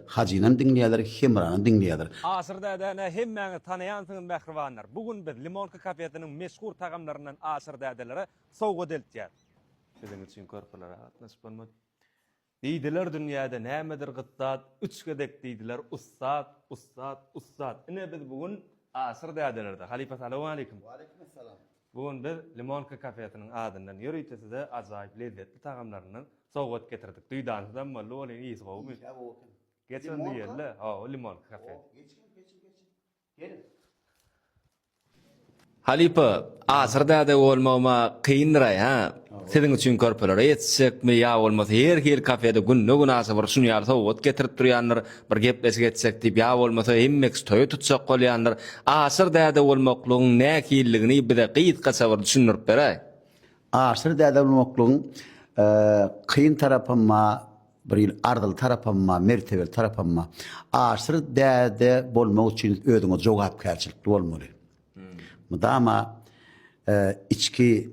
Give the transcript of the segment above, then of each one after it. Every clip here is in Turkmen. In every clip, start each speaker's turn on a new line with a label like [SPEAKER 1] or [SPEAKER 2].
[SPEAKER 1] Hajynam diňleýärler, Hemranam diňleýärler. Aşyr däde ne
[SPEAKER 2] hemmäňiz tanaýansyňyz mähribanlar. Bu gün biz Limonka kafesiniň meşhur tagamlaryndan Aşyr dädelere sowgat eltýäs. Siziň üçin körpelere gatnaşyp bolmaz. Diýdiler dünýäde nämedir gyt zat, Üç gezek diýdiler ussat, ussat, ussat. Ine biz bu gün Aşyr dädelerde. Halypa salowmaleýkim. Waleýkimessalam.
[SPEAKER 1] Bu gün biz
[SPEAKER 2] Limonka kafesiniň adyndan ýörite size ajaýyp lezzetli tagamlaryndan sowgat getirdik. Duýdansyzam boldy welin ysy gowymy? Ysy-a gowy eken. Geç onda ýerle. Hawa, Limonka kafe. Hop,
[SPEAKER 1] geçiň, geçiň, geçiň.
[SPEAKER 2] Geliň. Halypa, asyr däde bolmagym-a kyndyr-aý, hä? Siziň üçin körpelere ýetişjekmi ýa bolmasa her hili kafede günde günasa bir şun ýaly sowgat getirip durýandyr, bir gepleşik etjek diýip ýa bolmasa hemmeks toýa tutjak bolýandyr, Aşyr däde bolmaklygyň nähililigini bize gysgaça bir düşündirip beräý. Aşyr
[SPEAKER 1] däde bolmaklygyň kyn tarapam ba, bir hili arzyly tarapam ba, mertebeli tarapam ba. Aşyr däde bolmak üçin özüňe jogapkärçilikli bolmaly. Mydama içki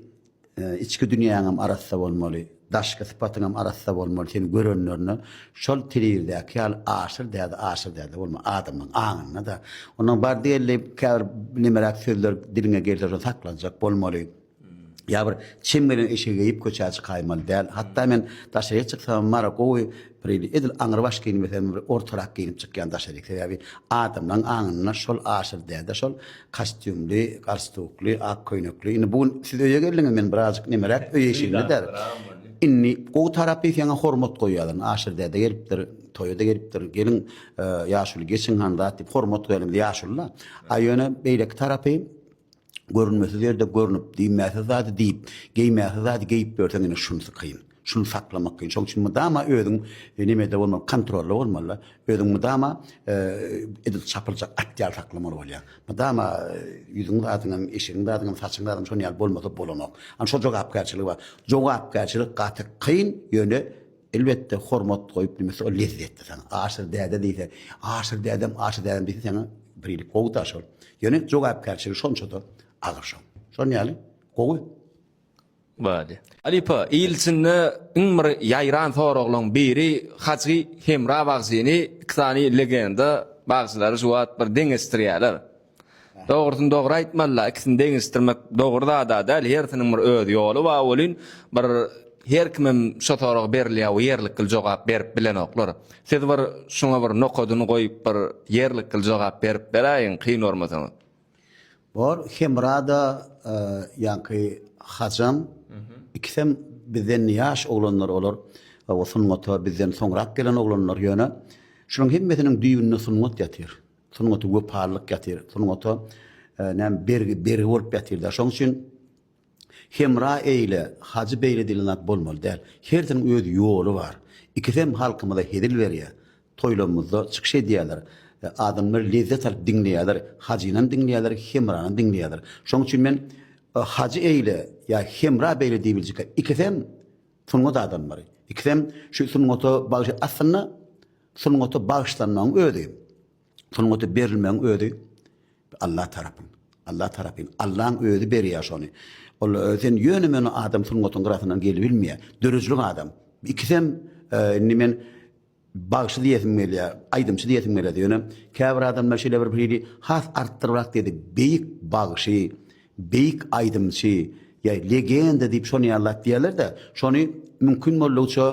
[SPEAKER 1] içki dünýäňem arassa bolmaly, daşky sypatyňam arassa bolmaly, seni görenlerine şol telewizäki ýaly aşyr däde, aşyr däde bolma, adamlaň aňynda-da. Ondan bardy-geldi käbir nemeräk sözler diliňe gelse şony saklanjak bolmaly. Ýa bir çem gelen eşegi geýip köçä çykaýmaly däl. Hatda men daşaryk çyksamam mara gowy bir edil aňrybaş geýinmesem bir ortarak geýnip çykýan daşaryk. Sebäbi adamlaň aňynda şol aşyr däde şol kastýumly, galstukly, ak köýnekli. Indi bu gün siz öýe geldiňiz men birazjyk nemeräk öý eşiginde däl. Indi gowy tarapy seňe hormat goýýarlar. Aşyr däde gelipdir, toýa-da gelipdir. Geliň ýaşuly geçiň han zat diýip hormat goýýarlar indi ýaşulyda. A ýöne beýleki tarapy Görünmesiz ýerde görnüp, diýmäsiz zady diýip, geýmäsiz zady geýip ýörseň ine şunsy kyn. Şuny saklamak kyn. Şoň üçin mydama özüň nimede bolmaly, kontrolda bolmaly-da. Özüň mydama edil çapyljak at ýaly saklamaly bolýaň. Mydama ýüzüň zadyňam, eşigiň zadyňam, saçyň zadyňam şonuň ýaly bolmasa bolanok. Ana şol jogapkärçiligi bar. Jogapkärçilik gaty kyn, ýöne Elbetde hormat goýup nime şo lezzetde saňa Aşyr däde diýse Aşyr dädem Aşyr dädem diýse saňa birlik gowy-da şol. Ýöne jogapkärçiligi şonça-da agyr şoň. Şon ýaly gowy.
[SPEAKER 2] Bady. Halypa, il içinde iň bir ýaýran soraglaň biri Hajy Hemra bagşyny iki sany legenda bagşylary şu wagt bir deňeşdirýäler. Dogrusyny dogry aýtmalyda ikisini deňeşdirmek dogry zada däl hersiniň bir öz ýoly bar welin bir her kimem şo soraga berilýä we ýerlikgil jogap berip bilenoklar. Siz bir şuňa bir nokadyny goýup bir ýerlikgil jogap berip beräýiň kyn görmeseňiz. Bor
[SPEAKER 1] Hemrada ýaňky Hajam ikisem bizden ýaş oglanlar olar sungata bizden soňrak gelen oglanlar ýöne şunuň hemmesiniň düýbünde sungat ýatyr. Sungata wepalylyk ýatyr. Sungata näme bergi, bergi bolup ýatyr-da. Şoň üçin Hemra eýle, Hajy beýle diýlen zat bolmaly däl. Hersiniň öz ýoly bar. Ikisem halkymyza hezil berýär. Toýlarymyzda çykyş edýärler. Adamlar lezzet alyp diňleýärler. Hajynam diňleýärler, Hemranam diňleýärler. Şoň üçin men Hajy eýle ýa Hemra beýle diýibiljek. Ikisem sungat adamlary. Ikisem şu sungata bagşy. Aslynda Sungata bagyşlanmagyň özi, sungata berilmegiň özi Allah tarapyn. Allah tarapyn. Allaň özi berýär şony. Ol sen ýöne-möne adam sungatyň gyrasyndan gelibilmeýär. Döredijilik adam. Ikisem indi men bagşy diýesim gelýär, aýdymçy diýesim gelýär. Ýöne käbir adamlar şeýle bir hili has artdyryp-ak diýdi, beýik bagşy. Beýik aýdymçy ýa legenda diýip şony ýaly zat diýýärler-de, şony mümkin boldugyça,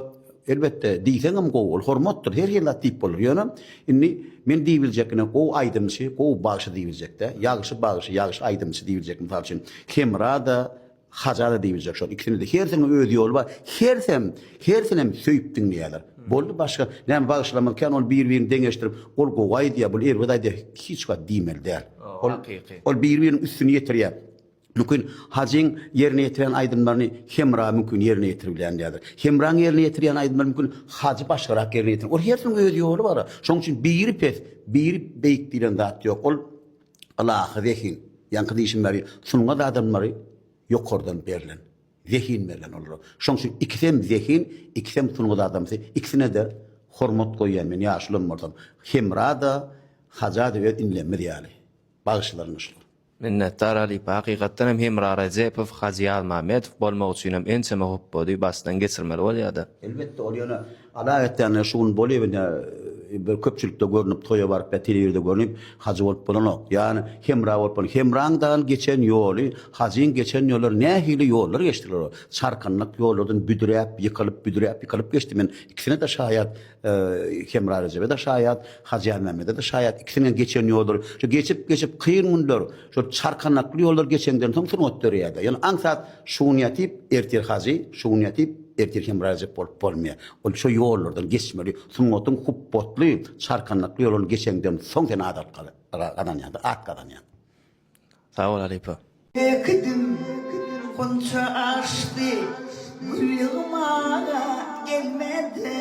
[SPEAKER 1] elbetde, diýseňem gowy, ol hormatdyr, her hili zat diýip bolar. Ýöne indi men diýip biljek ine gowy aýdymçy, gowy bagşy diýip biljek-dä. Ýagşy bagşy, ýagşy aýdymçy diýip biljek. Mysal üçin, Hemra-da, Haja-da diýip biljek şol ikisini-de. Hersiniň öz ýoly bar. Hersem, hersinem söýüp diňleýärler. Boldy başga näme bagşylarymyz kän ol bir-birini deňeşdirip, ol gowy aýdýar, bul erbet aýdýar, hiç wagt diýmeli däl. Ol hakyky. Ol biri-biriniň üstüni ýetirýär. Mümkin, Hajyň ýerine ýetiren aýdymlaryny Hemra mümkin ýerine ýetirbilýändirýär. Hemraň ýerine ýetirýän aýdymlaryny mümkin Hajy başgarak ýerine ýetirýär. Ol hersiniň öz ýoly bar. Şonuň üçin biri pes, biri beýik diýlen zat ýok. Ol ylahy zehin. Ýaňky diýşim ýaly, sungat adamlary ýokardan berlen. Zehin berlen olara. Şoň üçin ikisem zehin, ikisem sungat adamsy, ikisine-de hormat goýýan men ýaşulam bolsam. Hemra-da, Haja-da öz inlemmiz ýaly. Bagyşlaryna şükür. Minnetdar halypa,
[SPEAKER 2] hakykatdan hem Hemra Rejepow, Hajy Ýazmamedow bolmak üçinem ençeme hupbady başdan
[SPEAKER 1] geçirmeli
[SPEAKER 2] bolýada.
[SPEAKER 1] Elbetde
[SPEAKER 2] ol
[SPEAKER 1] ýöne
[SPEAKER 2] Ala
[SPEAKER 1] etýänler
[SPEAKER 2] şu gün
[SPEAKER 1] bolýa ine bir köpçülikde görnüp toýa baryp ýa telewizde görnüp hajy bolup bolanok ýani hemra bolup bolan hemraň dagyň geçen ýoly hajyň geçen ýollary nähili ýollar geçdiler olar çarkynlyk ýollardan büdüräp ýykylyp büdüräp ýykylyp geçdi men ikisine de şaýat hemra rejebe de şaýat hajy anmämmede de şaýat ikisiniň geçen ýollary şu geçip geçip kyn günler Şol çarkanakly ýollar geçenden soň sungat döreýär-de. Ýöne aňsat şugun ýatyp, ertir hajy, şugun ýatyp, ertir Hemra Rejep bolup bolmaýar. Ol şo ýollardan geçmeli. Sungatyň hupbatly, çarkanakly ýoluny geçenden soň sen adat gazanýaň-da, at gazanýaň. Sag
[SPEAKER 2] bol halypa.
[SPEAKER 3] Ekdim, gunça açdy, gül ýygmaga gelmedi.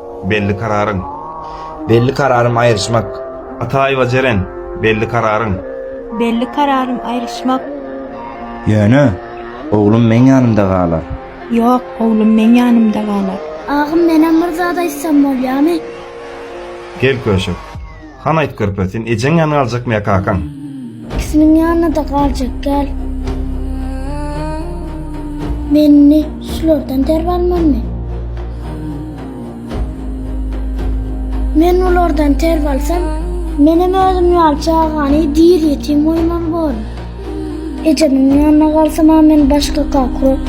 [SPEAKER 4] Belli kararyň. Belli
[SPEAKER 5] kararym aýryşmak. Ataýewa Jeren,
[SPEAKER 4] Belli kararyň. Belli
[SPEAKER 6] kararym aýryşmak. Ýöne,
[SPEAKER 5] oglum meň ýanymda galar. Ýok,
[SPEAKER 6] oglum meň ýanymda galar. Agam, menem bir
[SPEAKER 7] zat aýtsam bolýamy?
[SPEAKER 4] Gel, Köşek. Han aýt körpe, sen ejeň ýanyna galjakmy ýa kakaň? Ikisiniň
[SPEAKER 7] ýanyna-da galjak gel. Men indi şulardan terbi almalymy? Men bulardan terbi alsam, menem özüm ýaly çagany diri ýetim goýmaly bolaryn. Ejemiň ýanyna galsam, men başga kaka bolar.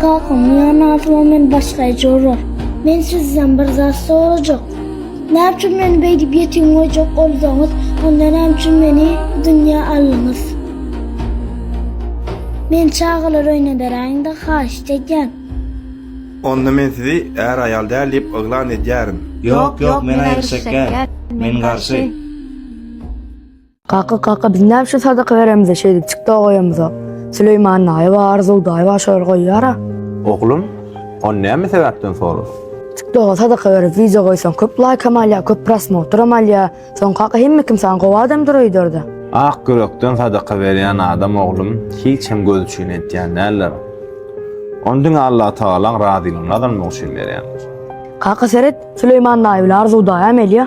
[SPEAKER 7] Kakamyň ýanyna galsam, men başga eje bolar. Men sizden bir zat sorajak. Näme üçin meni beýdip ýetim goýjak bolduňyz? Onda näme üçin meni bu dünýä aldyňyz? Meni çagalar öýüne beräýiň-de, haýyşt edýän!
[SPEAKER 4] Onda men sizi är-aýal däl diýip yglan edýärin. Ýok, ýok, men
[SPEAKER 5] aýgyr çekýän. Men garşy. Kaka,
[SPEAKER 8] kaka, biz näme üçin sadaka beremiz-ä, şeýdip çik-da goýamyzok. Süleýman daýy-a, Arzuw daýy-a şol goýýar-a. Oglum,
[SPEAKER 9] ony näme sebäpden soradyň? Çik-doga sadaka
[SPEAKER 8] berip wideo goýsaň köp laýkam alýar, köp prosmotram alýar. Soň kaka hemme kim saňa gowy adam durar öýderde. Ak ýürekden
[SPEAKER 9] sadaka berýän adam oglum hiç hem göz üçin etýän däldir. Ony diňe Allatagalaň razylygyny gazanmak üçin berýän. Kaka seret,
[SPEAKER 8] Süleýman daýy bilen Arzuw daýy-a melýa.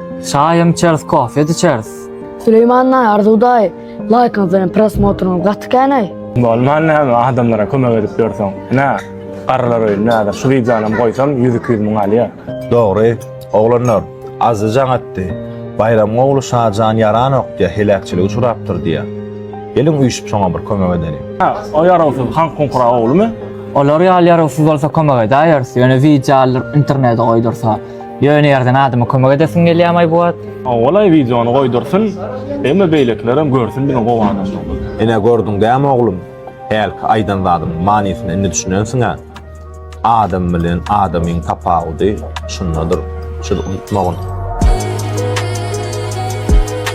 [SPEAKER 9] Çaýam içeris
[SPEAKER 10] kofe de içeris. Süleýman daýy
[SPEAKER 8] Arzuw daýy laýkyňyz bilen prosmotryňyz gaty känaý. Bolman näme
[SPEAKER 11] adamlara kömek edip ýörseň ine garrylar öýüni näder şu wideonam goýsam ýüz iki ýüz müň alýa. Dogry
[SPEAKER 9] oglanlar azzyjaň atdy Baýramyň ogly Şajan ýaranok diýä heläkçilige uçurapdyr diýä. Geliň üýşüp şoňa bir kömek edeliň. Hä o ýarawsyz
[SPEAKER 11] Hankunkura oglumy? Olar ýaly
[SPEAKER 10] ýarawsyz bolsa kömek edäýeris ýöne wideo aldyryp internede goýdursa. Ýöne ýerden adama kömek edesiň gelýämaý bu wagt. Owalaý wideony
[SPEAKER 11] goýdursyn emma beýlekilerem görsün biziň gowy adamlarymyzy. Ine gördüň
[SPEAKER 9] dämi oglum hälki aýdan zadymyň manysyna indi düşünensiňä adam bilen adamyň tapawudy şundadyr şuny unutmagyn.